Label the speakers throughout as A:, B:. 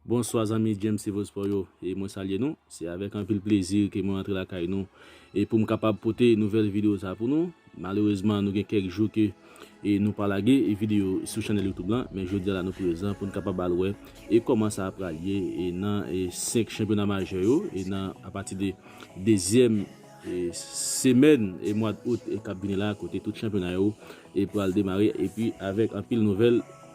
A: Bonswa zanmi James Civil Sport yo e mwen salye nou, se avèk anpil plezi ke mwen antre lakay nou e poum kapab pote nouvèl video sa pou nou, malerezman nou gen kèk jou ke e nou pa lage video sou chanèl youtube lan men jodia la nou prezan poun kapab al wè e kòman sa pral ye e nan e 5 chanpyona majè yo e nan apati de dezyèm e semèn e mwad out e kap vini la kote tout chanpyona yo e pral demare epi avèk anpil nouvèl.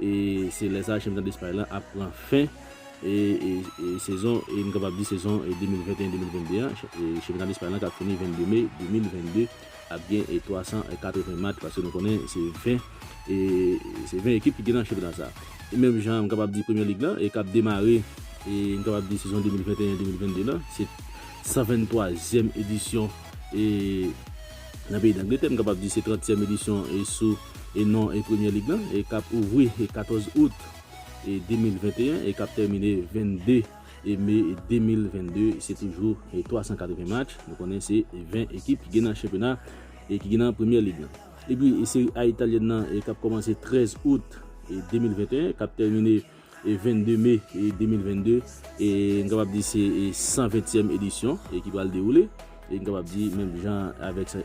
A: E se lè sa chanpyonat Espay lan ap pran fen e sezon e nou kapab di sezon 2021-2022 an. Chanpyonat Espay lan k ap fini 22 me 2022 ap gen 380 match paske nou konnen se 20 e se 20 ekip ki gen nan chanpyonat sa. E menm jan m kapab di Premyè Lig lan e k ap demare e nou kapab di sezon 2021-2022 lan se 123 zièm edisyon e nan peyi Dangletè nou kapab di se 30 tièm edisyon e sou e non e premyè lig lan e kap ouvri e 14 out e 2021 e kap tèmine 22 e me 2022 se toujou e 380 match nou konnen se 20 ekip ki gen nan chanpyona e ki gen nan premyè lig lan epi e seri a italyèn nan e kap kòmanse 13 out e 2021 kap tèmine 22 me 2022 m kapab di se 120 tièm edisyon ki pral dewoule m kapab di menm jan avèk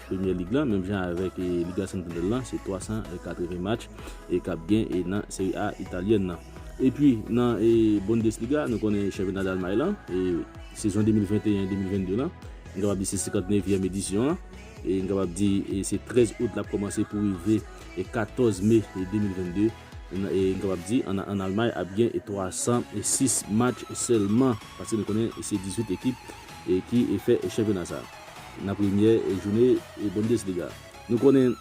A: premyè lig lan menm jan avèk lig a sentonèl lan se 380 match kap gen nan seri a italyèn nan epi nan bondesliga nou konnen chanpyona dalmay lan sezon 2021 2022 lan m kapab di se 59 vièm edisyon an m kapab di se 13 out lap kòmanse pou rive 14 me 2022. Nou kapab di an Almay ap gen 306 match sèlman paske nou konnen se 18 ekip ki fè chanpyona sa nan premyè joune Bundesliga. Nou konnen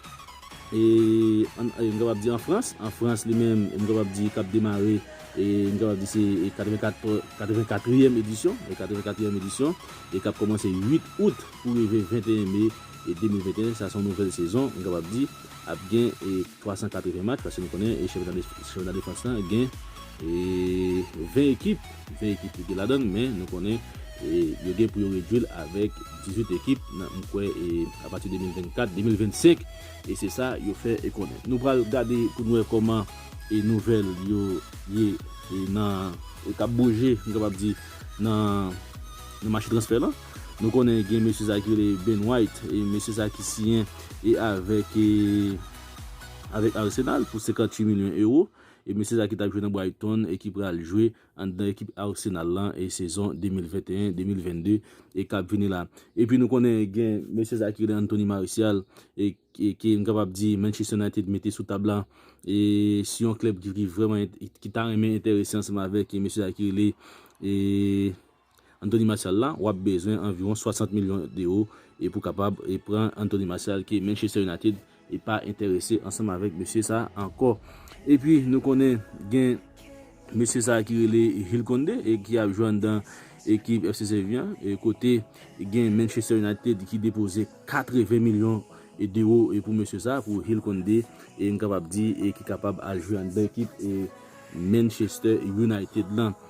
A: nou kapab di an Frans, an Frans li menm nou kapab di kap demare nou kapab di se 84 triyèm edisyon, 84 triyèm edisyon e kap kòmanse 8 out pou rive 21 me 2021 sa son nouvèl sezon nou kapab di ap gen. 380 match paske nou konnen chanpyona defans la gen 20 ekip, 20 ekip li gen ladan l men nou konnen yo gen pou yo redui l avèk 18 ekip nan m kwè apati 2024, 2025 e se sa yo fè konnen. Nou pral gade pou nou wè kòman nouvèl yo ye nan kap bouje m kapab di nan mache transfè lan. Nou konnen gen mesye sa ki rele Ben White e mesye sa ki siyen e avèk e avèk Arsenal pou 58 milyon ewo e mesye sa ki tap jwe nan Brighton e ki pral jwe anndan ekip Arsenal lan e sezon 2021, 2022 e kap vini la. Epi nou konnen gen mesye sa ki rele Anthony Martial e ke m kapab di Manchester United mete sou tab la e si yon klèb ki vreman ki ta renmen enterese ansanm avèk e mesye sa ki rele e. Anthony Martial la, wap bezwen anviwon 60 milyon euro e pou kapab e pran Anthony Martial ke Manchester United e pa enterese ansanm avèk mesye sa ankò. Epi nou konnen gen mesye sa ki rele Jules Koundé e ki ap jwe anndan ekip FC Sevilla an e kote gen Manchester United ki depoze 80 milyon d'euro e pou mesye sa pou Jules Koundé e m kapab di e ki kapab al jwe anndan ekip e Manchester United lan.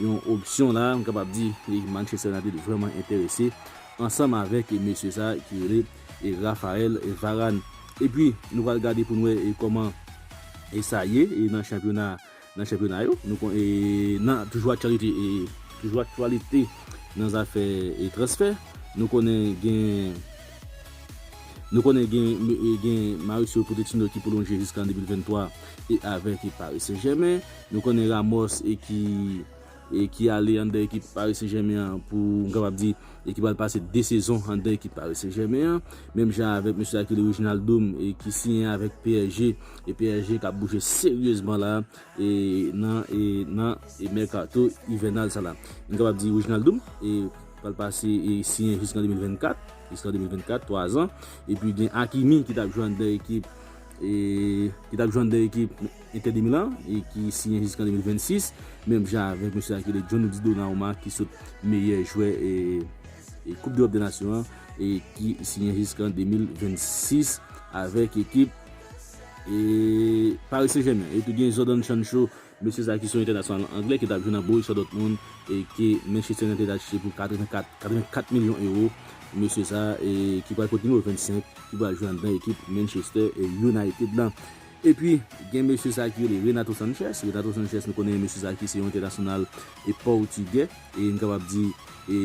A: yon opsyon la, m kapab di ekip Manchester United vrèman enterese ansanm avèk mesye sa ki rele Raphael Varane. Epi nou pral gade pou n wè kòman sa ye nan chanpyona nan chanpyona yo nou kon nan toujou aktyalite toujou aktyalite nan zafè transfè nou konnen gen nou konnen gen gen Mauricio Pochettino ki pwolonje jiska 2023 e avèk Paris Saint Germain Nou konnen Ramos e ki e ki ale anndan ekip Paris Saint Germain an pou m kapab di e ki pral pase 2 sezon anndan ekip Paris Saint Germain an. Menm jan avèk mesye Akili Wijnaldum e ki siyen avèk psg e psg kap bouje seryezman la e nan e nan e mèkato ivènal sa la. M kapab di Wijnaldum e pral pase e siyen jiskan 2024 jiskan 2024 3 zan e pi gen Hakimi ki tap jwe anndan ekip e ki tap jwenn 2 ekip Inter de Milan e ki siyen jiskan 2026 menm jan avèk mesye sa ki rele Gianluigi Donnarumma ki sot meyè jwè e koup dEròp dè Nasyon an e ki siyen jiskan 2026 avèk ekip e Paris Saint Germain epi gen Jadon Sancho Mesye sa ki se yon entènasyonal anglè ki tap jwe nan Borussia Dortmund e ke Manchester United achte pou 84 84 milyon ewo. Mesye sa ki pral pot nimewo 25 ki pral jwe anndan ekip Manchester United lan. Epi gen mesye sa ki rele Renato Sanches. Renato Sanches nou konnen mesye sa ki se yon entènasyonal pòtigè e nou kapab di e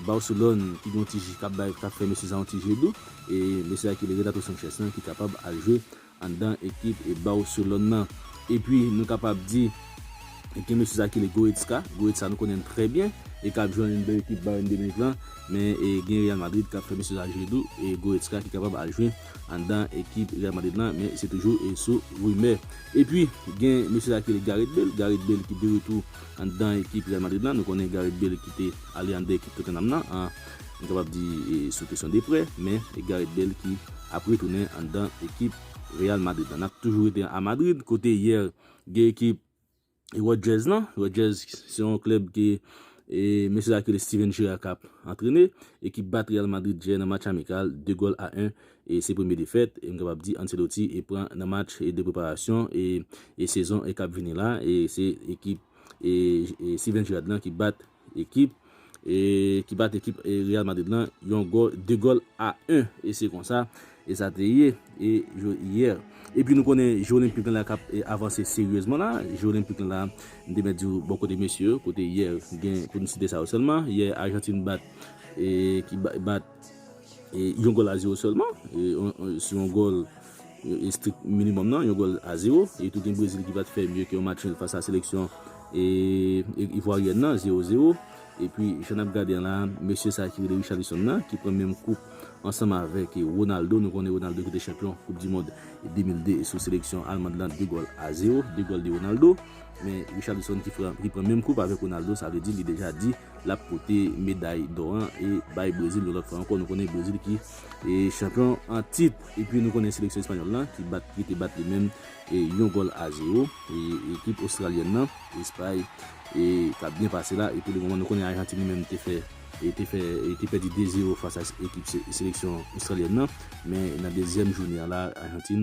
A: Barcelone ki gen yon ti je kap bay kap fè mesye sa yon ti je dou e mesye sa ki rele Renato Sanches lan ki kapab al jwe anndan ekip e Barcelone nan. Epi nou kapab di gen mesye sa ki rele Goretzka, Goretzka nou konnen l trè byen e kap jwe anndan ekip Bayern de Munich lan, men e gen Real Madrid kap fè mesye sa jwe tou e Goretzka ki kapab al jwe anndan ekip Real Madrid lan men se toujou e sou rimè. Epi gen mesye sa ki rele Gareth Bale, Gareth Bale ki de retou anndan ekip Real Madrid lan, nou konnen Gareth Bale ki te ale anndan ekip Tottenham nan an. Nou kapab di sou kesyon Deprez, men Gareth Bale ki ap retounen anndan ekip Real Madrid lan. N ap toujou rete a Madrid kote yè gen ekip Rodgers lan. Rodgers se yon klèb ke mesye sa ki rele Steven Gerrard k ap antrene e ki bat Real Madrid yè nan match amikal 2 gòl a 1 e se premye defèt e nou kapab di Ancelotti pran nan match de preparasyon e sezon k ap vini la e se ekip Steven Gerrard lan ki bat ekip e ki bat ekip Real Madrid lan yon gòl 2 gòl a 1 e se konsa e sa te ye e jou yè e pi nou konnen je Olenpik lan la kap avanse seryezman la je Olenpik lan la m te mèt di w bò kote mesye yo kote yè gen pou n site sa yo sèlman yè Ajantin bat e ki bat Yon gòl a zewo sèlman, sou yon gòl estrik minimòm nan, yon gòl a zewo. E tou gen Brezil ki pa t fè mye ke yon match nil fas a seleksyon Ivwaryèn nan, zewo zewo. E pi, jan n ap gade an la, mesye sa ki rele Richarlison nan, ki pran menm koup ansanm avèk Ronaldo, nou konnen Ronaldo ki te chanpyon koup di mond 2002 sou seleksyon Almand lan, 2 gòl a zewo, 2 gòl de Ronaldo. Men, Richarlison ki pran menm koup avèk Ronaldo, sa vle di li deja di. l ap pote meday dò an e bay Brezil yon lòt fwa ankò. Nou konnen Brezil ki chanpyon an tit. E pi nou konnen seleksyon espanyòl la ki bat ki te bat li menm yon gòl a zewo ekip ostralyèn nan, Espay k ap byen pase la. E pou le moman nou konnen Ajantin li menm te fè te fè te pèdi de zewo fas a ekip seleksyon ostralyèn nan. Men nan dezyèm joune an la Ajantin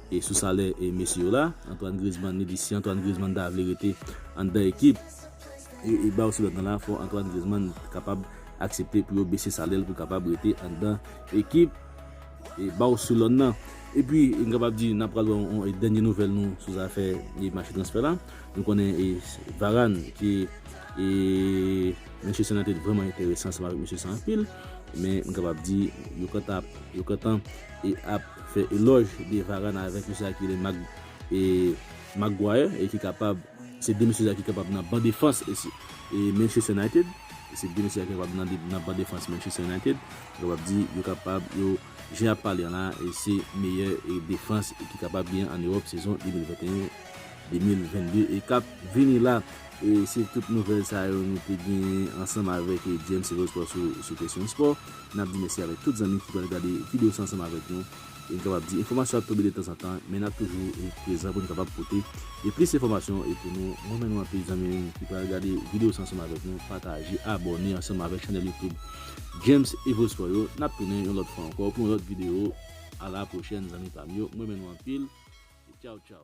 A: E sou salè mesye yo la. Antoine Griezmann li di si Antoine Griezmann ta vle rete anndan ekip e Barcelone la fò Antoine Griezmann kapab aksepte pou yo bese salè l pou l kapab rete anndan ekip e Barcelone nan. E pi m kapab di n ap pral wè yon dènye nouvèl nou sou zafè e mache transfè la. Nou konnen e Varane ki e Manchester United vrèman enterese ansanm avèk mesye sa anpil men m kapab di yo kanta yo kantan e ap. fè elòj de Varane avèk mesye sa ki rele Mag e Maguire e ki kapab se 2 mesye sa ki kapab nan ban defans e Manchester United e se 2 mesye sa ki kapab nan nan ban defans Manchester United nou kapab di yo kapab yo jan yap pale an la e se meyè e defans ki kapab gen an Ewòp sezon 2021 2022 e kap vini la e se tout nouvèl sa yo nou te genyen ansanm avèk James Elosport sou sou kesyon spò. Nap di mèsi avèk tout zanmi ki pral gade video sa ansanm avèk nou e m kapab di enfòmasyon ap tonbe de tanzantan men nap toujou prezan pou n kapab pote e plis enfòmasyon e pou nou mwen men nou anpil zanmi m ki pral gade video sa ansanm avèk nou pataje abòne ansanm avèk chanèl youtube James Evosport yo nap tounen yon lòt fwa ankò pou yon lòt video a la pwochèn zanmi pa m yo mwen men nou anpil e tchaw tchaw.